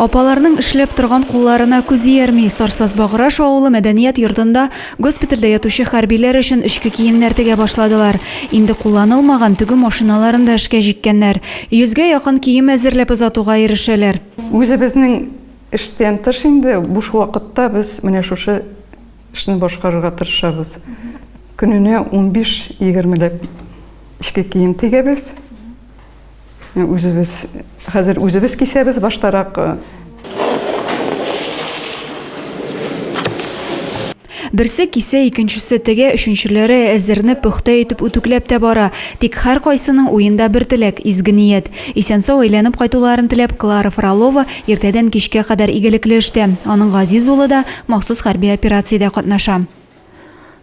Апаларның эшләп торган кулларына күз иярми. Сарсазбаграш авылы мәдәният йортында госпитальдә ятучы хәрбиләр өчен эчке киемнәр тегә башладылар. Инде кулланылмаган тегү машиналарын да эшкә җиккәннәр. Йөзгә якын кием әзерләп озатуга ирешәләр. Үзебезнең эштән тыш инде буш вакытта без менә шушы Эшне башкарырга тырышабыз. Көненә 15-20 ләп эчке кием тегәбез. Үзебез, хәзер үзебез кисәбез баштарак. Берсе кисә, икенчесе тегә, өченчеләре әзерне пөхтә итеп үтүкләп тә бара. Тик һәркайсының уенда бер теләк, изге ният. Исән-сау әйләнеп кайтуларын теләп, Клара Фролова иртәдән кичкә кадәр игелекле эштә. Аның газиз улы да махсус хәрби операциядә катнаша.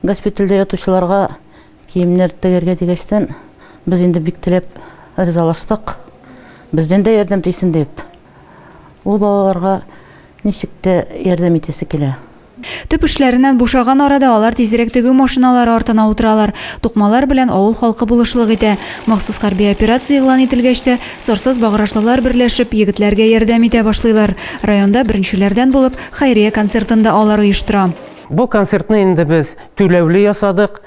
Госпитальдә ятучыларга киемнәр тегәргә дигәчтән, без инде бик теләп ризалаштык, бездән дә ярдәм тисен дип. Ул балаларга ничек тә ярдәм итәсе килә. Төп эшләреннән бушаган арада алар тизрәк тегү машиналары артына утыралар. Тукмалар белән авыл халкы булышлык итә. Махсус хәрби операция игълан ителгәч тә, сорсыз баграшлылар берләшеп, егетләргә ярдәм итә башлыйлар. Районда беренчеләрдән булып хәйрия концертын да алар оештыра. Бу концертны инде без түләүле ясадык.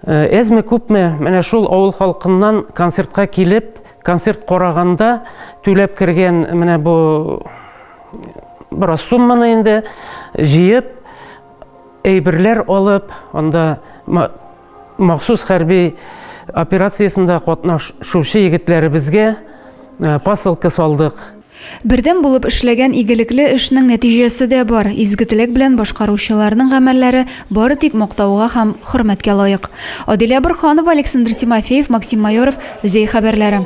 Әзме-күпме, менә шул авыл халкыннан концертка килеп, Концерт караганда түләп кергән менә бу бераз сумманы инде җыеп, әйберләр алып, анда махсус хәрби операциясендә катнашучы егетләребезгә посылка салдык. Бердәм булып эшләгән игелекле эшнең нәтиҗәсе дә бар, изге теләк белән башкаручыларның гамәлләре бары тик мактауга һәм хөрмәткә лаек. Адилә Борһанова, Александр Тимофеев, Максим Майоров, Зәй хәбәрләре.